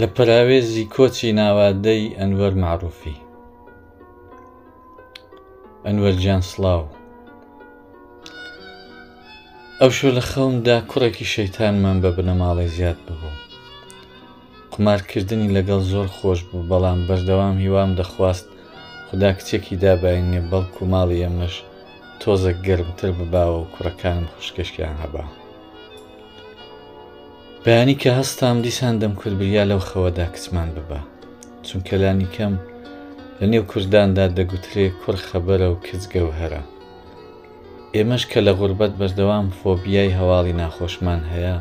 لە پەراوێزی کۆچی ناوادەی ئەنوەر معروفی ئەنوەر جان سلااو ئەو شو لە خەومدا کوڕێکی شەیتانمان بە بنەماڵەی زیاد ببوو قمارکردنی لەگەڵ زۆر خۆش بوو بەڵام بەردەوام هیوام دەخواست خدا کچێکی دابینێ بەڵکو ماڵی ئەمەش تۆزە گەرمتر بباوە و کوڕەکانم خوشکشکیان هەبا بەیانی کە هەستام دیسان دەمکرد بریا لەو خەوەدا کچمان ببا چونکە لانیکەم لە نێو کورداندا دەگوترێ کوڕ خەبەرە و کچ گەوهەرە ئێمەش کە لە غوربەت بەردەوام فۆبیای هەواڵی ناخۆشمان هەیە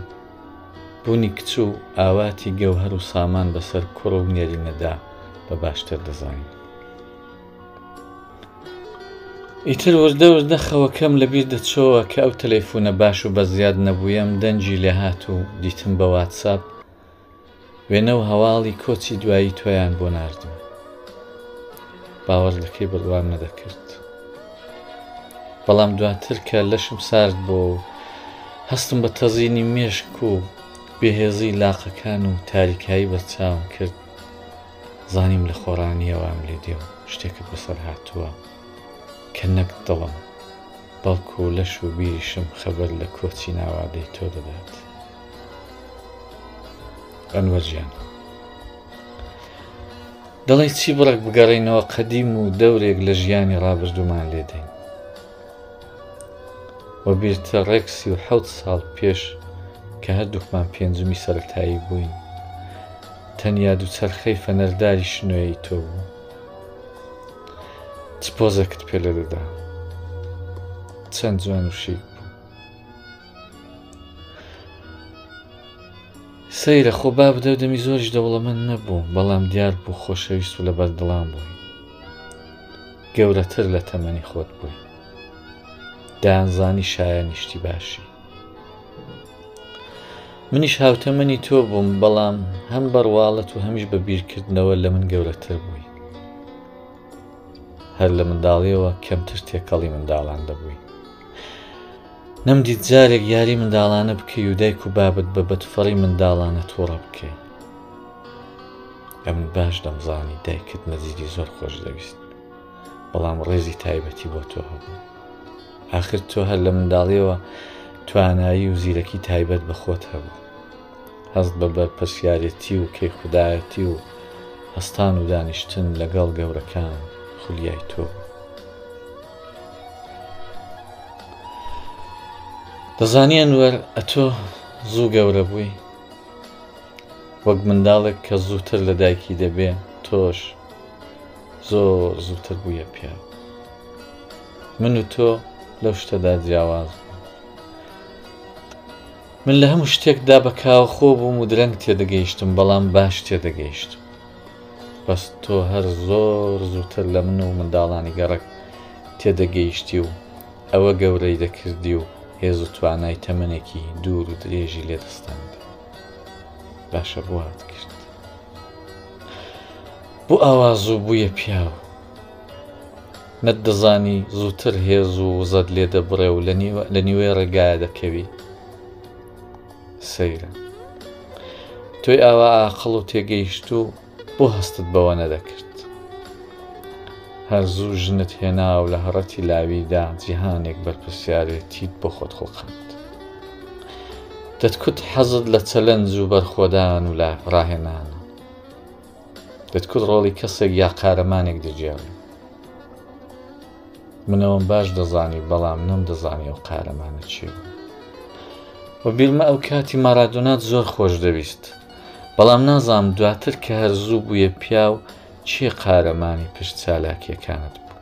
بوونی کچ و ئاواتی گەوهەر و سامان بەسەر کوڕ و نێرینەدا بە باشتر دەزانین ئیتر وردە وردە خەوەکەم لە بیر دەچۆوە کە ئەو تەلەیفونە باش و بە زیاد نەبوویەم دەنگی لێ هات و دیتم بە واتساپ وێنە و هەواڵی کۆچی دوایی تۆیان بۆ ناردم باوەڕ دەکەی بڕوام نەدەکرد بەڵام دواتر کە لەشم سارد بۆ و هەستم بە تەزینی مێشک و بێهێزی لاقەکان و تاریکایی بەرچاوم کرد زانیم لە خۆڕانیەوام لێ دێ و شتێکت بەسەر هاتووە کە نەک دڵم بەڵکوو لەش و بیریشم خەبەر لە کۆچی ناوادەی تۆ دەدات ئەنوەر گیان دەڵێی چی بڕێک بگەڕێینەوە قەدیم و دەورێک لە ژیانی ڕابردوومان لێدەین وە بیرتە ڕێک سی و حەوت ساڵ پێش کە هەردووکمان پێنجمی سەرەتایی بووین تەنیا دووچەرخەی فەنەرداری شنۆیەی تۆ بوو چ پۆزەکت پێ لە دەدا چەند جوان و شیک بوو سەیرە خۆ با بدە دەمی زۆریش دەوڵەمەند نەبوو بەڵام دیار بوو خۆشەویست و لە بەردڵان بووی گەورەتر لە تەمەنی خۆت بووی دانزانی شایە نیشتی باشی منیش هاوتەمەنی تۆ بووم بەڵام هەم بەڕواڵەت و هەمیش بە بیرکردنەوە لە من گەورەتر بووی هەر لە منداڵیەوە کەمتر تێکەڵی منداڵان دەبووی نەمدیت جارێک یاری منداڵانە بکەی و دایک و بابت بە بەتفەڕی منداڵانە تۆڕە بکەی ئەمن باش دەمزانی دایکت مەزیدی زۆر خۆش دەویست بەڵام ڕێزی تایبەتی بۆ تۆ هەبوو ئاخر تۆ هەر لە منداڵیەوە توانایی و زیرەکی تایبەت بە خۆت هەبوو. هەست بە بەرپرسیارێتی و کەیخودایەتی و هەستان و دانیشتن لەگەڵ گەورەکان خولیای تۆ بوو. دەزانی ئەنوەر ئەتۆ زوو گەورە بووی وەک منداڵێک کە زووتر لە دایکی دەبێ تۆش زۆر زووتر بوویە پیاو. من و تۆ لەو شتەدا جیاواز بووین. من لە هەموو شتێکدا بە کاوەخۆ بووم و درەنگ تێدەگەیشتم بەڵام باش تێدەگەیشتم. بەس تۆ هەر زۆر زووتر لە من و منداڵانی گەڕەک تێدەگەیشتی و ئەوە گەورەی دەکردی و هێز و توانای تەمەنێکی دوور و درێژی لێ دەستاند. باشە بۆ وات کرد؟ بۆ ئاوا زوو بوویە پیاو؟ نەتدەزانی زووتر هێز و وزەت لێ دەبڕێ و لە نیوەی ڕێگایە دەکەوی؟ سەیرە. تۆی ئاوا ئاقڵ و تێگەیشت و بۆ هەستت بەوە نەدەکرد؟ هەر زوو ژنت هێنا و لە هەڕەتی لاویدا جیهانێک بەرپرسیارێتیت بۆ خۆت خوڵقاند. دەتکوت حەزت لە چەلەنج و بەرخۆدان و لە ڕاهێنانە. دەتکوت ڕۆڵی کەسێک یا قارەمانێک دەگێڕی منەوەم باش دەزانی بەڵام نەم دەزانی ئەو قارەمانە چێ و بیرمە ئەو کاتی مارادۆنات زۆر خۆش دەویست بەڵام نازام دواتر کە هەر زوو بووە پیا و چێ قارەمانی پشت چالاکیەکانت بوو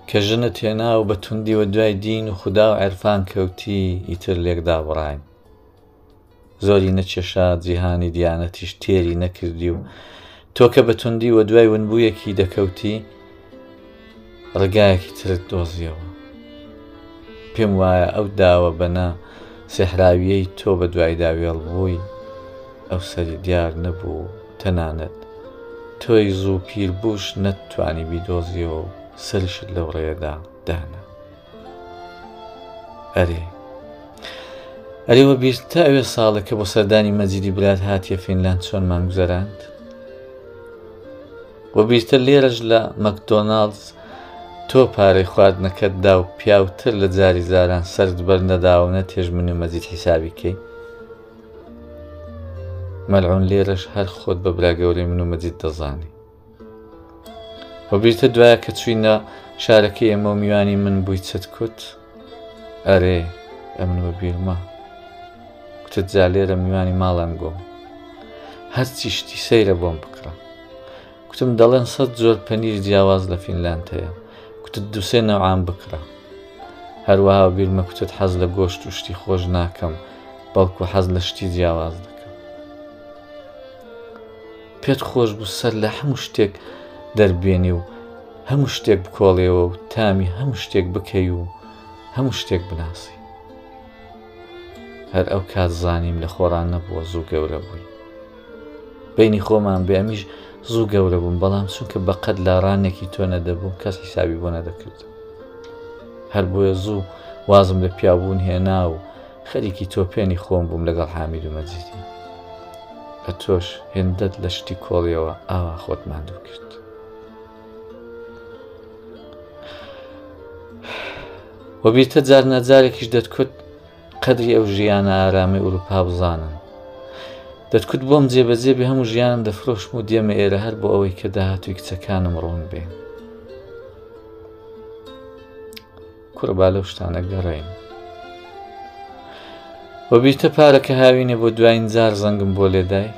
کە ژنە تێنا و بە توندیوە دوای دین و خوددا و عرفان کەوتی ئیتر لێکدا بڕین زۆری نەچێشا جیهانی دیانەتیش تێری نەکردی و تۆکە بە توندی وە دوای ونبوویەکی دەکەوتی ڕگایەکی ترت دۆزیەوە پێم وایە ئەو داوە بەنا سێحراویەی تۆ بە دوایدا وێڵ بووی ئەو سەری دیار نەبوو تەنانەت تۆی زوو پیر بووش نەتتوانی بیدۆزیەوە سەرشت لەو ڕێدا دانا ئەرێ ئەرێ وە بیرت تا ئەوێ ساڵێکە بۆ سەردانی مەجیدی برات هاتیە فینلاند چۆن مانگوزەراند وە بیرتە لێرەش لە مەکدۆناالز تۆ پارەی خواردنەکەت دا و پیاوتر لە جاری زاران سرد بەر نەداونە تێژ من و مەجید حیسابیکەی مەلعون لێرەش هەر خۆت بە براگەورەی من و مەجید دەزانی وەبیرتە دوایە کە چوینە شارەکەی ئێمە و میوانی من بووی چت کوت ئەرێ ئەمن وەبیرمە کوتت جا لێرە میوانی ماڵم گۆم هەرچی شتی سەیرە بۆم بکڕە کوتم دەڵێن سەد زۆر پەنیر جیاواز لە فینلاند هەیە کوتت دووسێ نەوعام بکڕە هەروەها بیرمە کوتت حەز لە گۆشت و شتی خۆش ناکەم بەڵکو حەز لە شتی جیاواز دەکەم پێت خۆش بوو سەر لە هەموو شتێک دەربێنێ و هەموو شتێک بکۆڵێەوە و تامی هەموو شتێک بکەی و هەموو شتێک بناسی هەر ئەو کات زانیم لە خۆڕان نەبووە زوو گەورە بووی بینی خۆمان بێ ئەمیش زوو گەورە بووم بەڵام چونکە بەقەت لە ڕانێکی تۆ نەدەبووم کەس حیسابی بۆ نەدەکرد هەر بۆیە زوو وازم لە پیاوبوون هێنا و خەریکی تۆپێنی خۆم بووم لەگەڵ حامید و مەجیدی ئە تۆش هێندەت لە شتی کۆڵیەوە ئاوا خۆت ماندوو کرد وەبیتە جار نەجارێکیش دەتکوت قەدری ئەو ژیانە ئارامی ئوروپا بزانن دەتکوت بۆم جێبەجێ بێ هەموو ژیانم دەفرۆشم و دێمە ئێرە هەر بۆ ئەوەی کە داهاتوی کچەکانم ڕوون بێ کورە با لەو شتانە گەڕێین وە بیرتە پارەکە هاوینێ بۆ دوایین جار زەنگم بۆ لێدای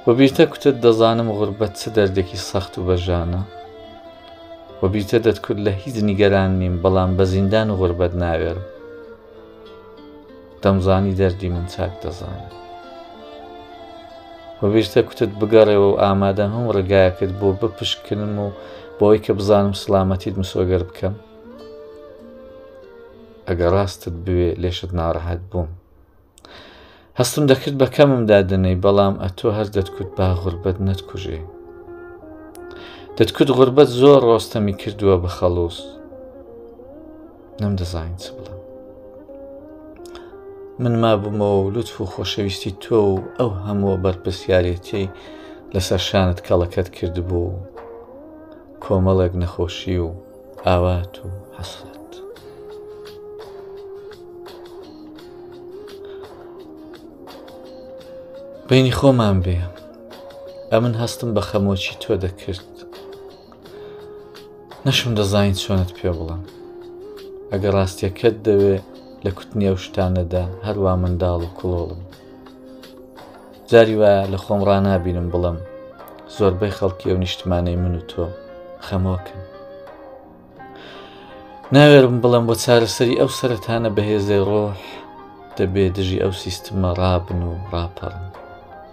وە بیرتە کوتت دەزانم غوربەت چ دەردێکی سەخت و بەژانە وە بیرتە دەتکرد لە هیچ نیگەران نیم بەڵام بە زیندان و غوربەت ناوێرم دەمزانی دەردی من چاک دەزانی وەبیرتە کوتت بگەڕێەوە و ئامادە هەم ڕێگایەکت بۆ بپشکنم و بۆی کە بزانم سلامەتیت مسۆگەر بکەم ئەگە ڕاستت بوێ لێشت ناڕەحەت بووم هەستم دەکرد بە کەمم دادنەی بەڵام ئەتۆ هەر دەتکوت با غوربەت نەتکوژێ دەتکوت غوربەت زۆر ڕۆستەمی کردووە بە خەڵوز نەم دەزانین چ بڵم من مابوومەوە و لوتف و خۆشەویستی تۆ و ئەو هەمووە بەرپسیارێتی لەسەر شانت کەڵەکەت کردبوو کۆمەڵێک نەخۆشی و ئاوات و حەسرەت بینی خۆمان بێ ئەمن هەستم بە خەمۆکی تۆ دەکرد نەشم دەزانین چۆنت پێ بڵم ئەگە ڕاستیەکەت دەوێ لە کوتنی ئەو شتانەدا هەروە منداڵ و کڵۆڵم جاری وایە لە خۆم ڕنابینم بڵم زۆربەی خەڵکی ئەو نیشتمانەی من و تۆ خەمۆکن ناوێرم بڵم بۆ چارەسەری ئەو سەرەتانە بەهێزەی ڕۆح دەبێ دژی ئەو سیستمە ڕابن و ڕاپەڕن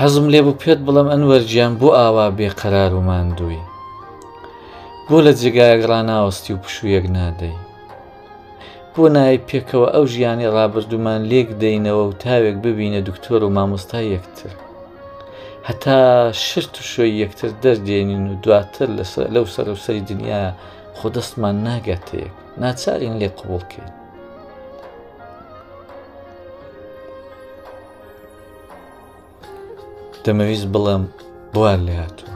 حەزم لێ بوو پێت بڵم ئەنوەر گیان بۆ ئاوا بێ قەرار و ماندووی بۆ لە جێگایەک ڕناوەستی و پشوویەک نادەی بۆ نای پێکەوە ئەو ژیانی ڕابردوومان لێک دەینەوە و تاوێک ببینە دکتۆر و مامۆستا یەکتر هەتا شرت و شوێ یەکتر دەردێنین و دواتر لەو سەرەوسەری دنیا خۆ دەستمان ناگاتەیەک ناچارین لێ قوڵکەین دەمەویست بڵێم بوار لێ هاتووە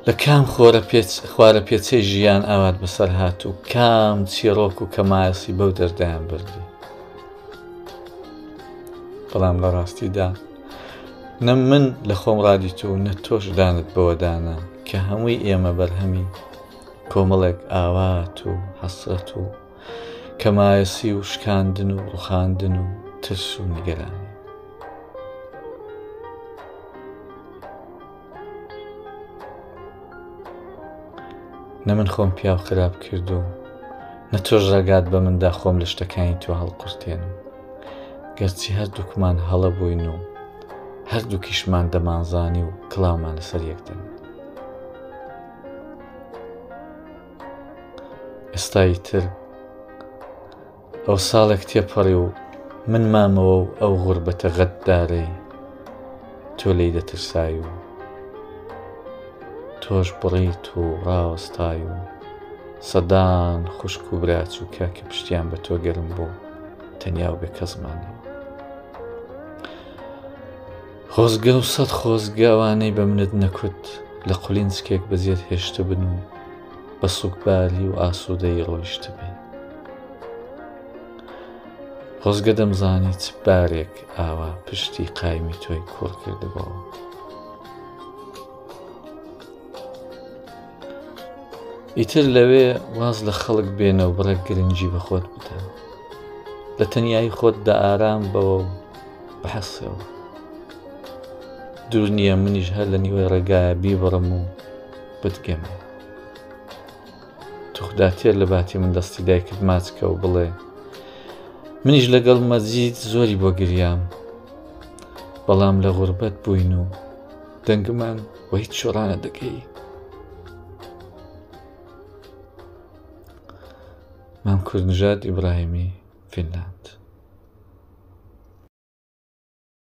لە کام خۆرە پێچ خوارە پێچەی ژیان ئاوات بەسەر هات و کام چیرۆک و کەمایەسی بەو دەردایان بردی بەڵام لە ڕاستیدا نە من لە خۆم ڕادیت و نە تۆش دانت بەوەدانە کە هەمووی ئێمە بەرهەمی کۆمەڵێک ئاوات و حەسرەت و کەمایەسی و شکاندن و ڕوخاندن و ترس و نیگەرانی نە من خۆم پیاو خراپ کردو نە تۆش ڕێگات بە مندا خۆم لە شتەکانی تۆ هەڵقورتێنم گەرچی هەردووکمان هەڵە بووین و هەردووکیشمان دەمانزانی و کڵاومان لەسەر یەکدەن ئێستایی تر ئەو ساڵێک تێپەڕی و من مامەوە و ئەو غوربەتە غەددارەی تۆ لێی دەترسای و تۆش بڕیت و ڕاوەستای و سەدان خوشک و براچووکە کە پشتیان بە تۆ گەرم بوو تەنیا و بێ کەسمانەوە خۆزگە و سەد خۆزگە ئەوانەی بە منت نەکوت لە قولینسکێک بەجێت هێشتبن و بە سوکبالی و ئاسوودەی ڕۆیشتبێ خۆزگە دەمزانی چ بارێک ئاوا پشتی قایمی تۆی کوڕ کردبەوە ئیتر لەوێ واز لە خەڵک بێنە و بڕێک گرنگی بە خۆت بدە لە تەنایی خۆت دە ئارام بەوە و بەحەسەوە دوور نییە منیش هەر لە نیوەی ڕێگایە بیبڕم و بتگەم توخدا تێر لە باتی من دەستی دایکت ماچکە و بڵێ منیش لەگەڵ مەزید زۆری بۆ گریام بەڵام لە غوربەت بووین و دەنگمان وە هیچ شۆڕانە دەکەی مام کوردنژاد ئیبراهیمی فینلاند.